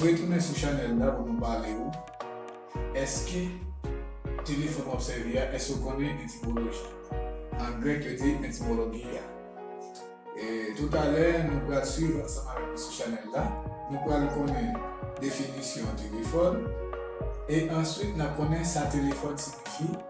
Retounen sou chanèl la pou nou pale ou Èske telefòn w ap sèvi a, èske ou konnen etimoloji an grèk yo te etimologiya? Toutalè nou pral swiv ansanm avèk nou sou chanèl la, nou pral konnen definisyon telefòn e answit n ap konnen sa telefòn siyifi.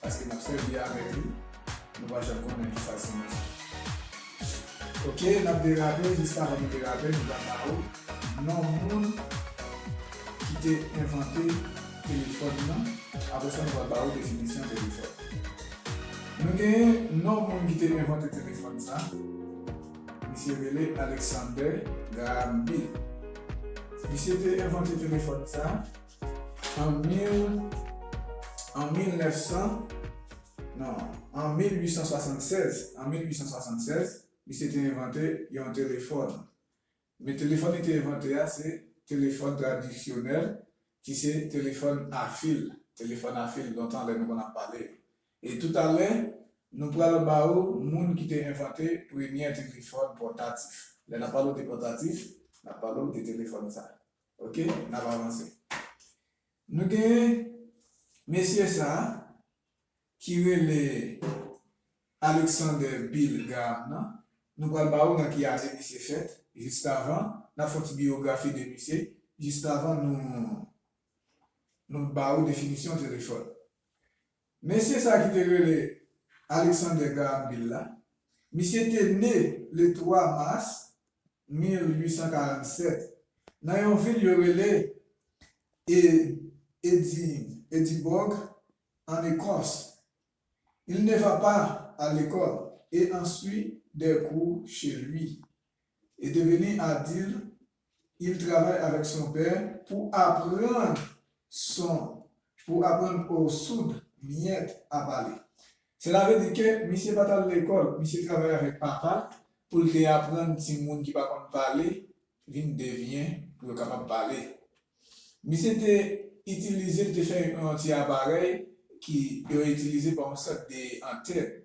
Paske nap sèvi avèk li, nou pa janm konnen ki sal simaye. Ok nap derape, jis avan nou derape nou pral ba ou non moun ki te envante telefòn nan, apre sa nou pral ba ou definisyon telefòn. Nou genyen non moun ki te envante telefòn sa, misye rele Alexander Graham Bell. Misye te envante telefòn sa. An 1876, misye te envante yon telefòn. Men telefòn li te envante a se telefòn tradisyonèl ki se telefòn a fil. Telefòn a fil lontan lè nou konn ap pale yo. E toutalè, nou pral ba ou moun ki te envante premyè telefòn pòtatif. Lè n ap pale w de pòtatif, n ap pale w de telefòn sa. Ok, n ap avanse. Nou gen mesye sa a ki rele Alexander Bill Graham nan. Nou pral ba ou nan ki ane misye fèt jiskavan. N ap fè yon ti biyografi de misye jiskavan nou ba ou definisyon telefòn. Mesye sa ki te rele Alexander Graham Bell la, misye te ne le 3 mas 1847 nan yon vil yo rele Edinburgh an Ekòs. Il ne va pas à l'école et en suit des cours chez lui. est devenu adulte, il travaille avec son père pou aprann son pou aprann o soud miyèt a pale. Sela ve di ke misye pa t al lekòl, misye travay avèk papa l pou l te aprann timoun ki pa konn pale vin devyen pou yo kapab pale. Misye te itilize, li te fè yon ti aparèy ki yo itilize pa yon sòt de antèn.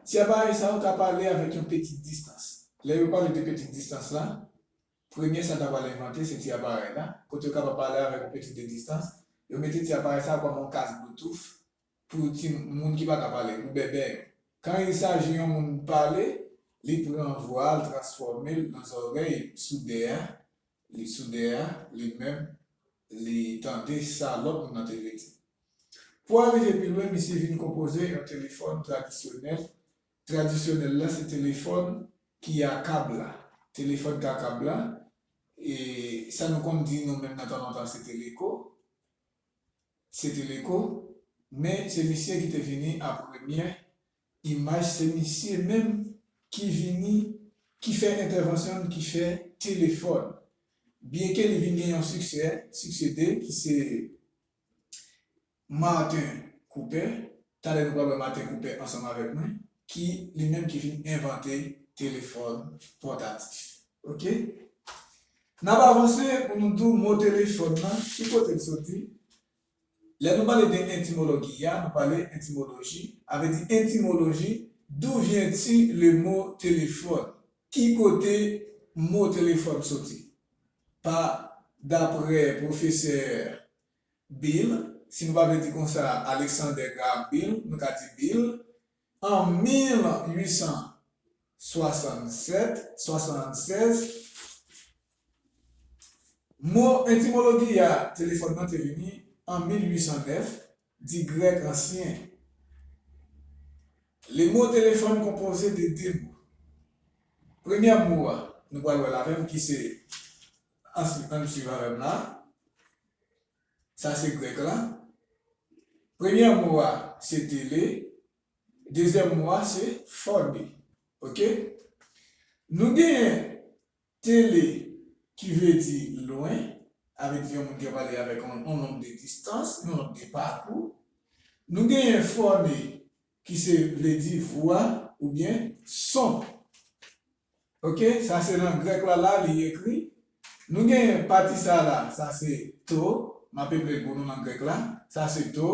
Ti aparèy sa yo ka pale avèk yon peti distans. Lè yo pale de peti distans la, premye sa ta pral envante se ti aparèy la, kote yo kapab pale avèk yon peti de distans, yo mete ti aparèy sa yo kòm yon kas bloutouf pou ti moun ki pa ka pale, pou bèbè yo. Kan il saji yon moun pale, li pran vwa a, l transfòme l nan zòrèy soudè a, li soudè a, li menm, li tande sa lòt moun nan te vle di. Pou al rive pi lwen misye vin konpoze yon telefòn tradisyonèl, tradisyonèl la se telefòn ki a kab la, telefòn ka kab la, e sa nou konn di nou menm nan tan lontan se teleko, se teleko, men se misye ki te vini a premyè imaj, se misye menm ki vini, ki fè entèvansyon l, ki fè telefòn. Byenke li vin gen yon siksè, siksede ki se Martin Cooper, talè nou pral wè Martin Cooper ansanm avèk mwen ki li menm ki vin envante telefòn pòtatif ok nap avanse pou nou di w mo telefòn nan ki kote l soti lè nou pale de entimologi ya nou pale entimoloji avè di entimoloji dou vyen ti le mo telefòn ki kote mo telefòn soti. Pa dapre pwofesè Bill, si nou pa vle di konsa Alexander Graham Bill, nou ka di Bill, an 1867, 76, mo entimologi a telefòn nan te vini an 1809, Di Grèk ansyen. Le mo telefòn konpoze de de mo. Premyè mo a, nou pral wè l avè m ki se ansyen an n suiv avè m la a. Sa se Grèk la. Premyè mo a se tele, dezyèm mo a se phone. Ok? Nou genyen Tele, ki vle di lwen, avle di yon moun ki ap ale avèk yon long de distans, yon long de pakou. Nou genyen fòne, ki se vle di vwa oubyen son. Ok, sa se nan grèk la la li ekri. Nou genyen pati sa la, sa se to, m ap eple l pou nou nan grèk la, sa se to,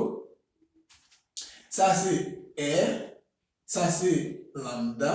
sa se è, sa se lamda,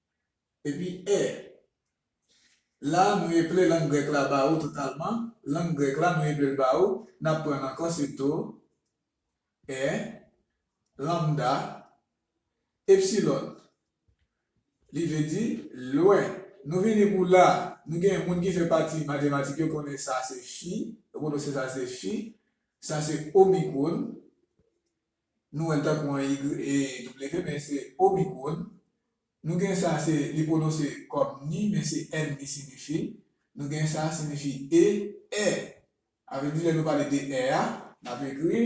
Epi, è. La, nou eple lang grèk la ba ou totalman, lang grèk la, nou eple l ba ou, n ap pran l ankò sitou, è, lambda, epsilon. Li vle di, lwen. Nou vini pou la, nou gen moun ki fè pati matematik yo konnen sa se fi, yo pwononse sa se fi, sa se omikwon, nou wèl tankou an YW men se Omicron, nou gen sa se li pwononse kòm ni men se n li sinifi, nou gen sa sinifi e, è, avèk di lè nou pale de è a, n ap ekri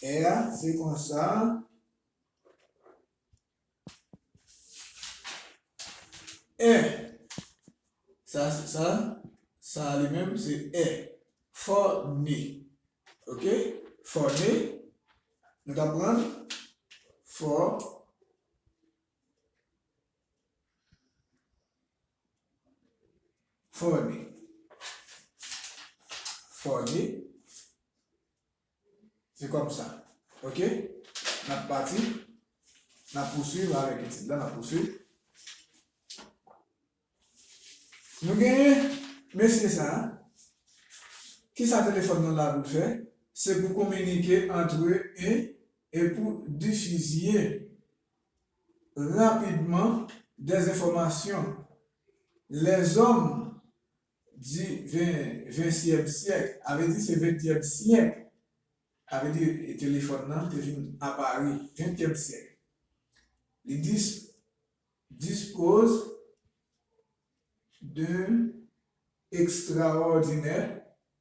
è a se konsa. È, sa se sa, sa a li menm se è. Fò ne. Ok? Fò ne, nou ta pran fò, fò ne. Fò ne. Se kòm sa. Ok? Nap pati. Nap pouswiv avèk etid la. Nap pouswiv. Nou genyen mesye sa a. Kisa telefòn nan la pou l fè? Se pou kominike antre e e pou difizye rapidman dèzenfòmasyon. Lèzòm di ventyèm syèk, a vle di se ventyèm syèk, a vle di telefòn nan te vin apari ventyèm syèk. Li dispose d'un extraordinaire.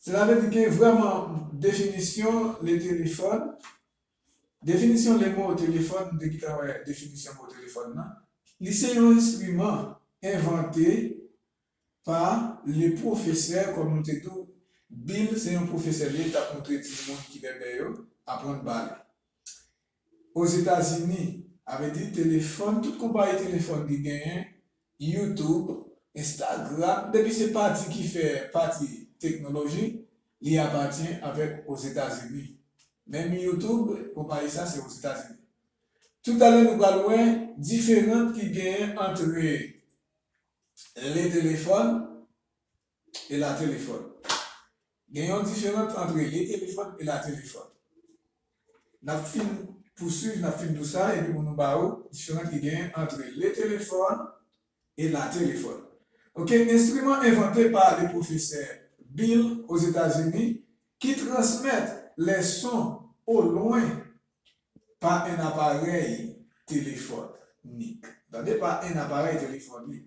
Sela vle di ke vrèman definisyon le telefòn, definisyon le mo au téléphone, m te gentan wè definisyon mo telefòn nan, li se yon enstriman envante pa le pwofesè, kòm nou te di w, Bill se yon pwofesè li ye, li t ap montre timoun ki bèbè yo aprann pale. Ozetazini, avedi telefòn, tout konpayi telefòn ki genyen, YouTube, Instagram, depi se pati ki fè pati teknoloji, li apatyen avèk Ozetazini. Menm YouTube, konpayi sa se Ozetazini. Tout alè nou pral wè diferant ki genyen antre le telefòn, e latelefòn. Gen yon diferant antre li telefòn e latelefòn. N ap fin pousuiv, n ap fin dou sa epi pou nou ba ou diferant ki genyen antre le telefòn e latelefòn. Ok, enstriman envante pa le pwofesè Bill Ozetazini ki transmèt le son o lwen pa en aparèy telefòn nik. Tande, pa en aparèy telefòn nik.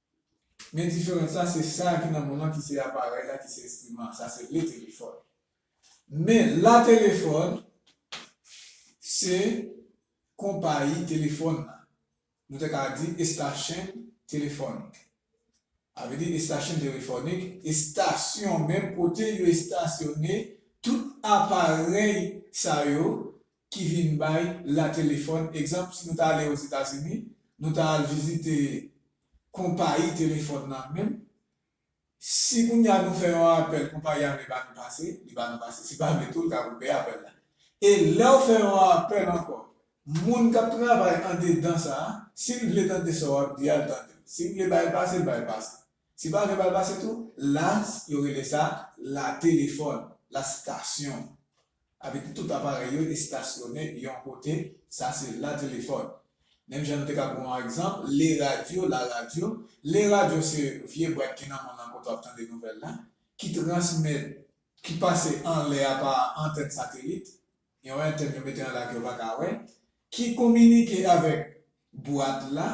Men diferans la se sa ki nan mond lan ki se aparèy la ki se enstriman an, sa se le téléphone. Men la telefòn se konpayi telefòn la. Nou te ka di estasyn telefònik. Sa vle di estasyn telefònik, estasyon men kote yo estasyone tout aparèy sa yo ki vin bay la telefòn. Egzanp, si nou ta ale Ozetazini, nou ta al vizite konpayi telefòn nan menm. Si kounye a nou fè yon apèl, konpayi a vle ba nou pase, li ba nou pase. Si l pa vle tou, l ka koupe apèl la. E lè w fè yon apèl ankò, moun k ap travay andedan sa a, si l vle tande sa w ap di a, l tande w. Si l vle ba l pase, l ba l pase. Si l pa vle ba l pase tou, la yo rele sa la telefòn, la stasyon. Avèk tout aparèy yo estasyone yon kote, sa se la telefòn. Menm jan nou te ka pran yon egzanp, le radyo, la radyo. Le radyo se vye bwat ki nan mòn lan kote w ap tande nouvèl la, ki transmèt, ki pase anlè a pa antèn satelit, yon entèn yo mete anlè a ke yo pa ka wè, ki kominike avèk bwat la,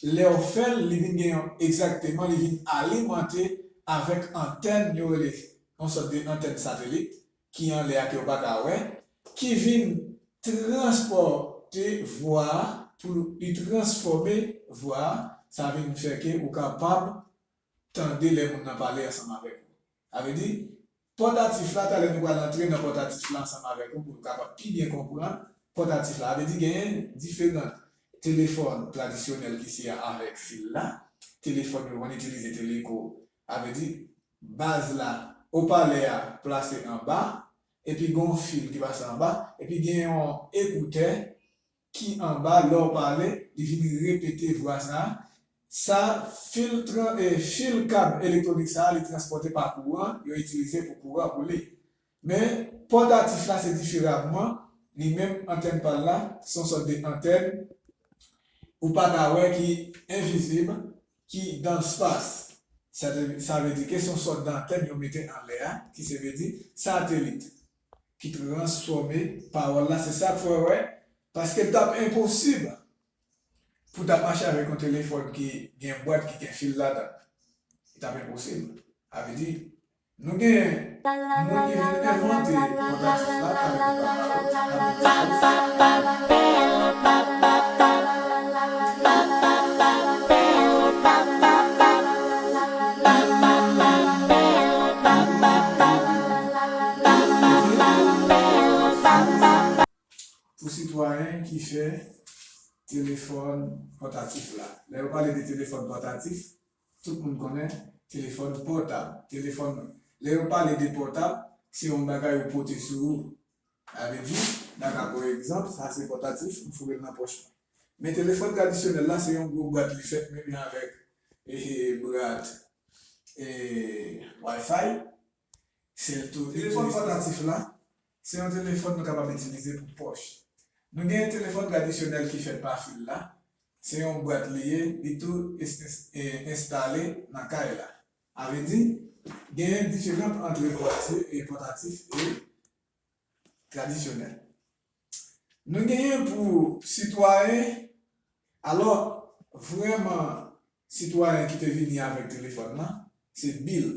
lè w fè l, li vin gen yon, egzakteman, li vin alimante avèk antèn yo rele, yon sòt de antèn satelit, ki anlè a ke yo pa ka wè, ki vin transpòte vwa a, pou li transfòme vwa a, sa vin fè ke ou kapab tande lè moun nan pale ansanm avèk ou. Sa vle di, pòtatif la, talè nou pral antre nan pòtatif la ansanm avèk ou pou nou kapab pi byen konprann pòtatif la. Sa vle di genyen diferant telefòn tradisyonèl ki se avèk fil la, telefòn yo konn itilize teleko Sa vle di, baz la, opalè a plase anba, epi gen yon fil ki pase anba, epi gen yon ekoutè ki anba, lè w pale, li vin repete vwa sa a. Sa fil tran, fil kab elektwonik sa a li transpòte pa kouran, yo itilize pou kouran pou li. Men, pò datif la se diferamman, li menm antèn pa l la, se yon sòt de antèn ou pa ka wè ki envizib, ki dan lspas. Sa te sa vle di ke se yon sòt dantèn yo mete anlè a, ki se vle di satelit, ki transfòme pawòl la. Se sa k fè w wè, paske l t ap enposib pou ta mache avèk yon telefòn ki gen bwat, ki gen fil ladan l. Li t ap enposib. Sa vle di, Nou gen Moun ki vin envante pwodaktis la kay li pa mal ap Pou sitwayen ki fè telefòn pòtatif la. Lè yo pale de telefòn pòtatif, Tout moun konnen telefòn pòtab, telefòn lè yo pale de pòtab se yon bagay ou pote sou ou. Sa vle di, n a ka pran egzanp, sa se pòtatif, m foure l nan pòch mwen. Men telefòn tradisyonèl la se yon gwo bwat li fèt menm jan avèk bwat Wi-Fi. Telefòn pòtatif la se yon telefòn nou kapab itilize pou pòch. Nou gen telefòn tradisyonèl ki fèt pa fil la, se yon bwat li ye, li tou enstale nan kay la. A vre di, genyen diferans antre bwatye pòtatif e tradisyonèl. Nou genyen pou sitwayen, alò vrèman sitwayen ki te vini avèk telefòn nan, se Bill.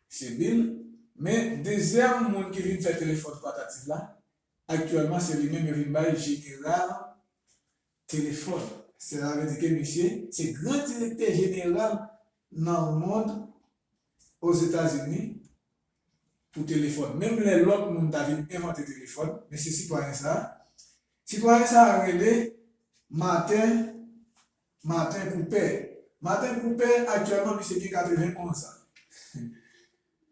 Se Bill, men dezyèm moun ki vin fè telefòn pòtatif la, aktyèlman se li menm yo vin bay jeneral Telefòn. Sela vle di ke misye se gran direktè jeneral nan mond Ozetazini pou telefòn. Menm lè lòt moun ta vin envante telefòn, men se sitwayen sa a. Sitwayen sa a rele Martin Martin Cooper. Martin Cooper aktyèlman misye gen 91 zan.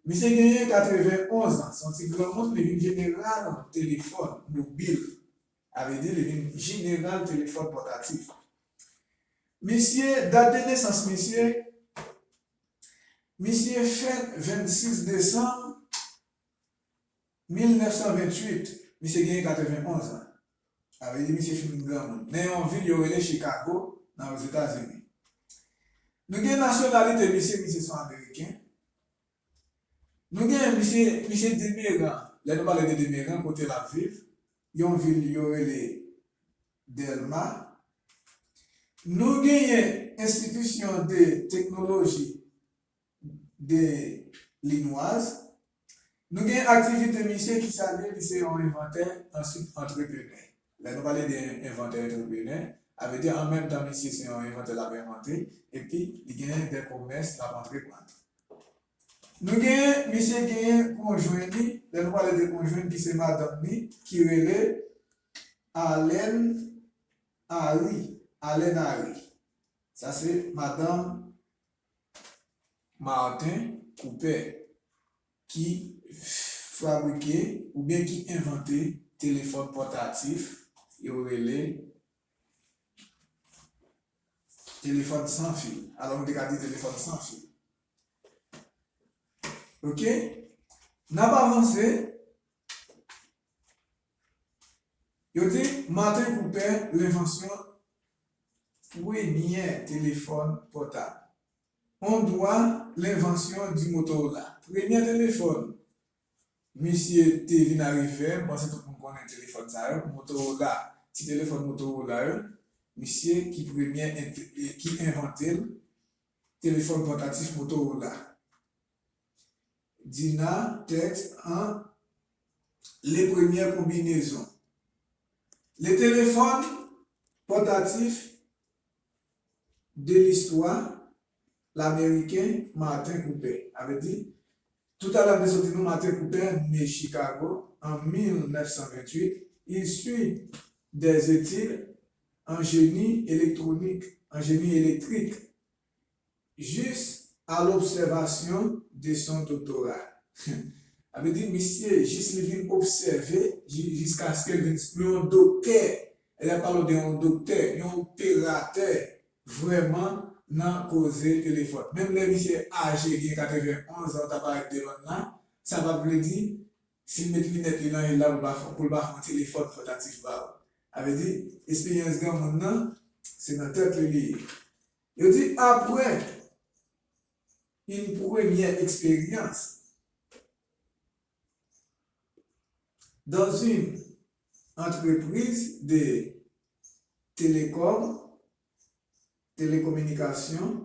Misye genyen 91 zan, se yon ti granmoun, li vin jeneral telefòn mobil Sa vle di li vin jeneral telefòn pòtatif. Misye, dat de nesans misye, misye fèt 26 desanm 1928, misye genyen 91 an. Sa vle di misye fin granmoun. Nan yon vil yo rele Chikago, nan Ozetazini. Nou gen nasyonalite misye, misye son ameriken. Nou gen misye, misye Demeran, lè nou pale de Demeran, kote l ap viv. Yon vil yo rele Dèlma. Nou genyen enstitisyon de teknoloji de Linwaz. Nou gen aktivite misye ki sa li ye? Li se yon envantè answit antreprenè. Lè nou pale de envantè antreprenè, a vle di an menm tan misye se yon envantè l ap envante epi li genyen de komès l ap antreprann. Nou genyen misye genyen konjwen li lè nou pale de konjwen ki se madanm ni ki rele Alèn Ari Alèn Ari sa se madanm Marten Koupè ki fabrike oubyen ki envante telefòn pòtatif yo rele telefòn san fil alò nou te ka di telefòn san fil. Ok, n ap avanse. Yo di, Martin Cooper, Lenvansyon premyè telefòn pòtab. On dwa lenvansyon di Motorola. Premyè telefòn misye te vin arive, m panse tout moun konnen telefòn sa yo, Motorola, ti telefòn Motorola yo. Misye ki premye, ki envante l. Telefòn pòtatif Motorola. Dina, tèks, an, Le premyè konbinezon Le telefòn pòtatif de listwa Lameriken Martin Cooper a vle di, tout a l ap vle soti nou Martin Cooper ne Chikago an 1928, issu des études an jeni elektwonik, an jeni elektrik, jis a lobsèvasyon de son doktora. Sa vle di misye jis li vin obsève jiskaske l vin yon doktè, lè y ap pale w de yon doktè, yon operatè vrèman nan koze telefòn. Menm lè misye aje gen 91 an ta parèt devan n la, sa pa vle di. Sil met linèt li nan yel la poul pa fon telefòn pòtatif ba ou. Sa vle di esperyans granmoun nan se nan tèt li li ye. Yo di aprè yn premyè eksperyans dans une entreprise de telecom, telekominikasyon,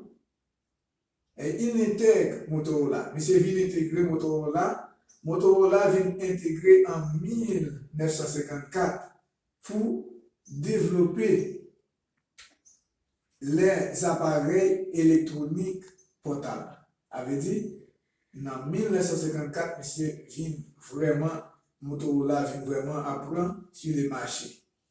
Ey in intèg Motorola. Misye vin entegre Motorola, Motorola vin entegre an 1954 pou devlope lè aparèy elektwonik pòtab. A vle di, nan 1954 misye vin vrèman Motorola vin vrèman ap pran su le mache.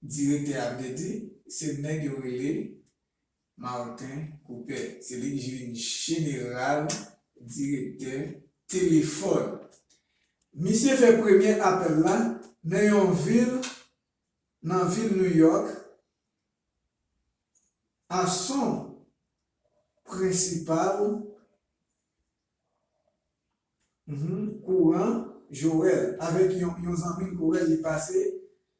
Direktè a byen di, se nèg yo rele Martin Cooper. Se li ki vin jeneral direktè telefòn. Misye fè premye apèl la nan yon vil nan vil New York a son prensipal kouran Joel avèk yon zanmi l Corel li pase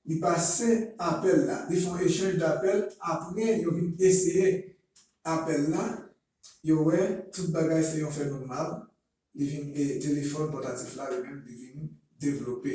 li pase apèl la li fè yon echanj dapèl aprè yo vin eseye apèl la yo wè tout bagay se yon fenomal li vin e telefòn pòtatif la li menm li vin devlope.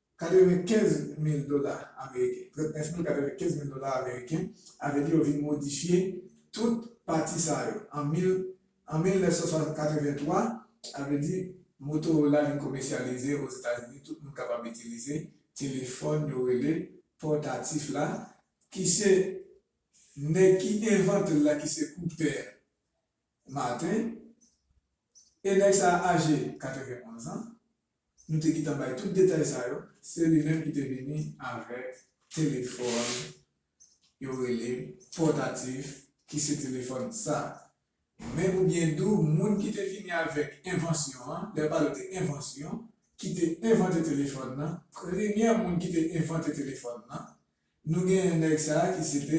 95 mil dola ameriken, 39 mil 95 mil dola ameriken, avèdi yo vin modifye tout pati sa yo an 1983, avèdi Motorola vin komèsyalize Ozetazini tout moun kapab itilize telefòn yo rele pòtatif la ki se nèg ki envante l la ki se Koupè Maten e nèg sa a aje 91 an. Nou te gentan bay tout detay sa yo, se li menm ki te vini avèk telefòn yo rele pòtatif ki se telefòn sa. Men pou byen di w, moun ki te vini avèk envansyon an, lè yo pale de envansyon, ki te envante telefòn nan, premyè moun ki te envante telefòn nan, Nou genyen nèg sa a ki se te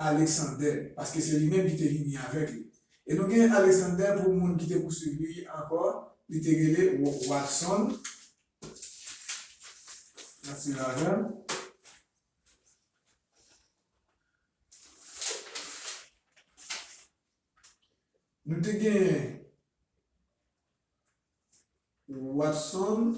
Aleksander, paske se li menm ki te vini avèk li. E nou genyen Aleksander pou moun ki te pouswiv li ankò, li te rele Watson. N ap suiv avè m. Nou te genyen Watson.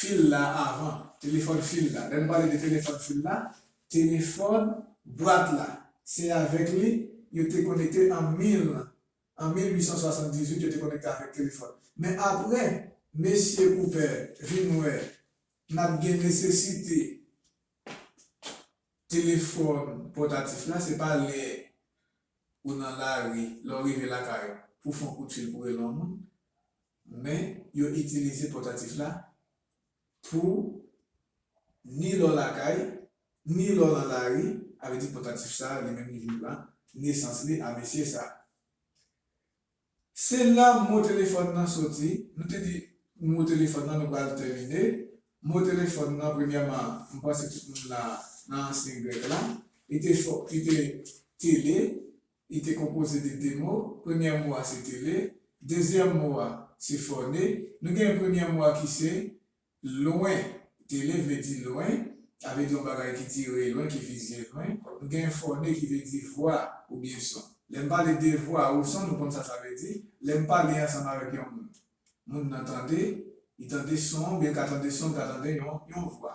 fil la avan, telefòn fil la. Lè n pale de telefòn fil la, telefòn bwat la. Se avèk li yo te konekte an 1878, yo te konekte avèk telefòn. Men apre Mesye Koupè vin wè n ap gen nesesite telefòn pòtatif la, se pa lè ou nan lari, lè w rive lakay ou pou fè yon kout fil pou w rele yon moun. Men, yo itilize pòtatif la pou ni lè w lakay, ni lè w nan lari, a vle di pòtatif sa a li menm li vin pran nesans li a mesye sa a. Se la mo telefòn nan soti, nou te di mo telefòn nan nou pral tèmine. Mo telefòn nan premyèman m panse tout moun la nan ansyen grèk la li te fò li te tele. Li te konpoze de de mo, premyè mo a se tele, dezyèm mo a se fòne. Nou gen premyè mo a ki se lwen. Tele vle di lwen, sa vle di yon bagay ki dire lwen, ki vizye lwen. Nou gen fòne ki vle di vwa oubyen son. Lè m pale de vwa ou son, nou konn sa sa vle di. Lè m pale ansanm avèk yon moun, moun nan tande, li tande son, oubyen l ka tande son, l ka tande yon vwa.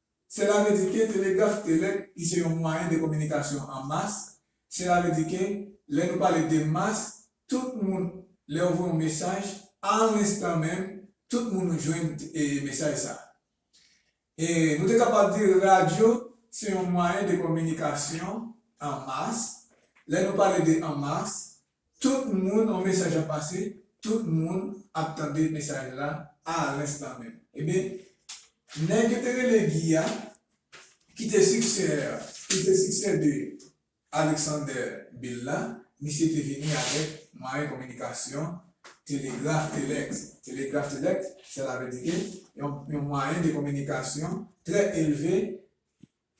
Sela vle di ke telegraf telek ki se yon mwayen de kominikasyon an mas, sela vle di ke lè nou pale de mas, tout moun, lè ou voye yon mesaj, a lenstan menm, tout moun ou jwenn mesaj sa. E nou te kapab di radyo se yon mwayen de kominikasyon an mas, lè nou pale de an mas, Tout moun on mesaj ap pase tout moun ap tande mesaj la a l'instant menm. Ebyen nèg yo te rele Guy a ki te siksè ki te siksè de Alexander Bill la misye te vini avèk mwayen kominikasyon telegraf telèks telegraf telèks sèlavèdike yon mwayen de kominikasyon trè elve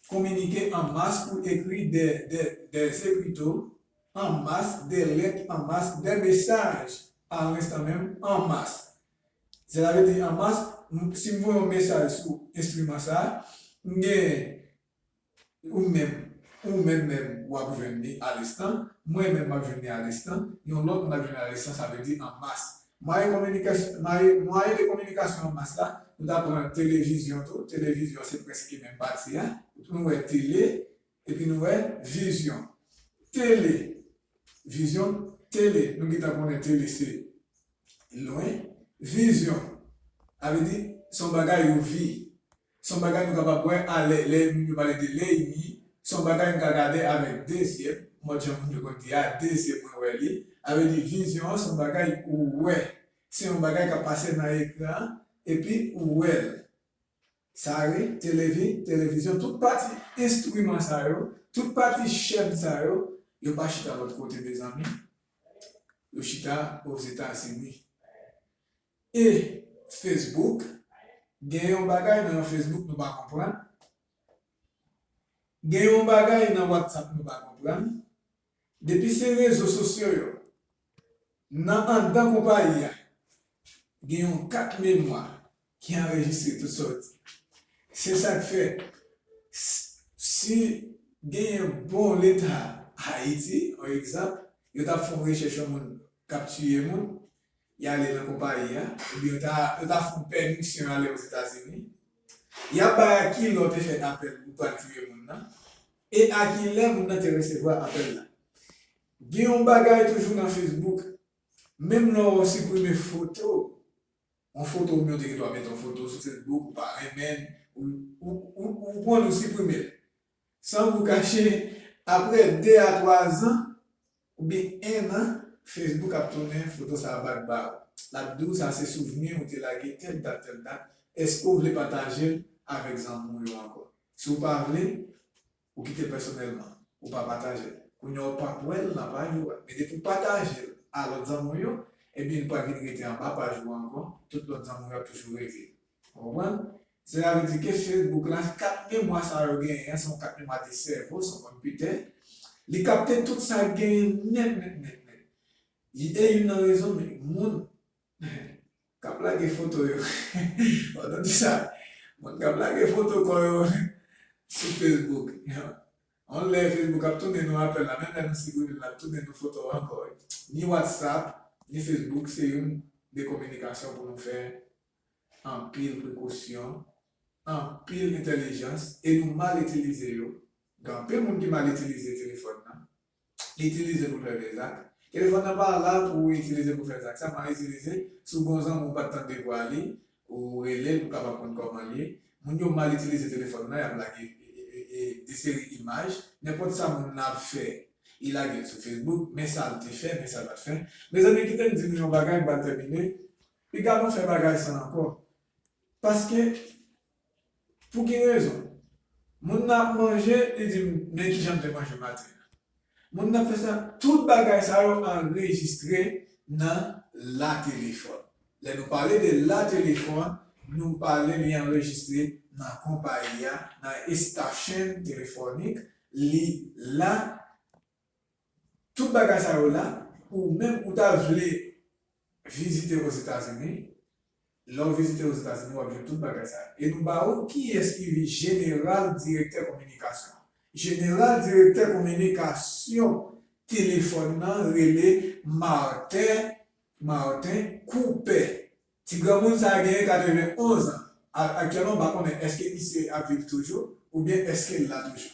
Kominike an mas pou ekri dè dè dè se pito an mas dè lèt an mas dè mesaj a lenstan menm an mas sela vle di an mas m si m voye yon mesaj sou enstriman sa a m gen ou menm ou menm menm w ap jwenn li alenstan mwen menm m ap jwenn li alenstan yon lòt moun ap jwenn li alenstan sa vle di an mas Mwayen de kominikasyon an mas la, nou ta pran televizyon tou, televizyon se prèske menm pati a, pou nou wè tele, epi nou wè vizyon. Tele, vizyon, tele, nou gentan konnen tele se lwen, vizyon, sa vle di se yon bagay ou vi. Se yon bagay nou kapab wè alè lè moun yo pale de Leimi, se yon bagay m ka gade avèk de zye m, mòd jan moun yo konn di a, de zye mwen wè li. Sa vle di vizyon an se yon bagay ou wè, se yon bagay k ap pase nan ekran an epi ou wè l. Sa re, televi, televizyon, tout pati enstriman sa yo, tout pati chèn sa yo, yo pa chita lòt kote mezanmi, yo chita Ozetazini. E Facebook gen yon bagay nan Facebook nou pa konprann gen yon bagay nan WhatsApp nou pa konprann depi se rezo sosyo yo nan andan konpayi a gen yon kat memwa ki anrejistre tout sa w di se sa k fè si genyen bon leta Ayiti on egzanp yo ta fon rechèch yon moun k ap tiye moun. y ale nan konpayi a, epi yo ta yo ta fout pèmisyon ale Ozetazini, y ap bay a ki lè w te fè apèl pou pral touye moun nan, e a ki lè moun nan te resevwa apèl la. Gen yon bagay toujou nan Facebook, menm lè w siprime foto, yon foto oubyen w te gen dwa mete yon foto sou Facebook ou pa renmen l, ou ou ou konprann ou siprime l. San pou kache, apre 2 a 3 zan, oubyen 1 an, Facebook ap tounen foto sa a bak ba ou. L ap di w sa se souvni ou te lage tèl dat tèl dat, èske ou vle pataje l avèk zanmi w yo ankò? Si w pa vle, ou kite l pèsonèlman, ou pa pataje l. Kounya ou p ap wè l nan paj ou a. Men depi w pataje l a lòt zanmi w yo, ebyen li pral vin rete anba paj ou a ankò, tout lòt zanmi w yo ap toujou rete. Ou konprann? Sela vle di ke Facebook la, kat memwa sa yo genyen an, se yon kat memwa de sèvo, se yon konpitè, li kapte tout sa k genyen nèt nèt nèt nèt. Li e youn nan rezon men moun k ap lage foto yo, wap tande sa, moun k ap lage foto kò yo sou Facebook, yon lè Facebook ap tounen nou apèl la, menm lè nou siprime'l la, lap tounen nou foto ankò. Ni WhatsApp, ni Facebook se youn de kominikasyon pou nou fè anpil prekosyon, anpil entèlijans e nou mal itilize yo, gen anpil moun ki mal itilize telefòn nan, li itilize pou l fè vye zak, telefòn nan pa la pou ou itilize pou fè zak sa, mal itilize, si w gen yon zanmi ou pa t tande vwa li, ou rele l pou w kapab konn kòman l ye, moun yo mal itilize telefòn nan y ap lage de seri imaj, nenpòt sa moun nan ap fè li lage l sou Facebook, men sa l te fè, men sa l pa t fè, mezanmi kite m di nou yon bagay m pral tèmine, Piga nou fè bagay sa ankò. Paske, pou ki rezon? Moun nan ap manje, li di m, Men ki jan m te manje maten an. Moun nan ap fè sa. Tout bagay sa yo anrejistre nan latelefòn. Lè nou pale de latelefòn, nou pale li anrejistre nan konpayi a, nan estachenn telefònik, li la. Tout bagay sa yo la pou ou menm ou ta vle vizite Ozetazini, lè ou vizite Ozetazini wap jwenn tout bagay sa yo. E nou ba ou kiyès ki vi Jeneral Direktè Kominikasyon. Jeneral Direktè Kominikasyon telefòn nan rele Martin Martin Coupet. Ti granmoun sa genyen 91 an. Aktyèlman m pa konnen èske misye ap viv toujou oubyen èske l la toujou.